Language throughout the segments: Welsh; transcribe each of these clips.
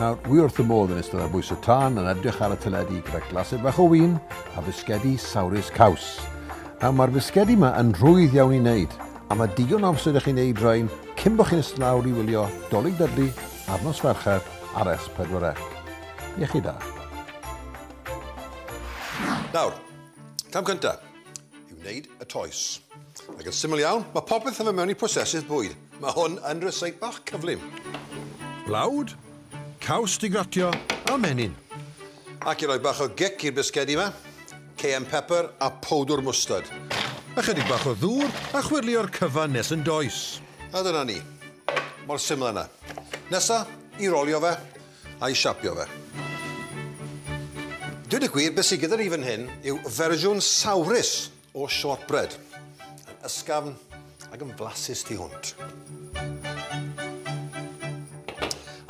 Nawr, wi wrth y modd yn ystod ar bwys y tân yn edrych ar y teledu gyda glasau bach o win a fisgedi sawrus caws. Nawr, mae'r fisgedi yma yn rhwydd iawn i wneud, a mae digon o amser i chi wneud rhain cyn bod chi'n ystod lawr i wylio Dolig Dudley ar nos Fercher ar S4C. Iechyd da. Nawr, cam cyntaf, i wneud y toes. Ac yn syml iawn, mae popeth yn fy mewn i prosesydd bwyd. Mae hwn yn rysau bach cyflym. Blawd, caws digratio a menyn. Ac i roi bach o gic i'r bisgedi yma, cayenne pepper a powdwr mwstard. Ychydig bach o ddŵr a chwyrlio'r cyfan nes yn does. A dyna ni. Mor syml yna. Nesa, i rolio fe, a'i siapio fe. Dweud y gwir, beth sydd gyda ni fan hyn yw fersiwn sawrus o shortbread. Yn ysgafn ac yn flasus tu hwnt.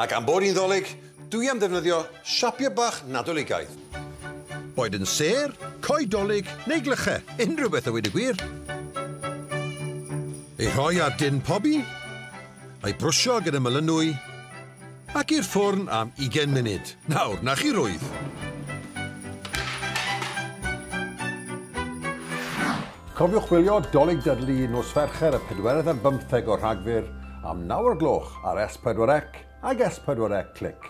Ac am bod hi'n ddolig, dwi am ddefnyddio siapio bach Nadoligaidd. Boed yn sêr, coed dolig neu glychau, unrhyw beth a weud y gwir. Ei rhoi ar din pobi, a'i brwsio gyda melynwy, Ac i'r ffwrn am ugain munud. Nawr, 'na chi rwydd. Cofiwch wylio 'Dolig Dudley nos Fercher y pedwerydd ar bymtheg o Rhagfyr am naw o'r gloch ar S4C ag S4C Click.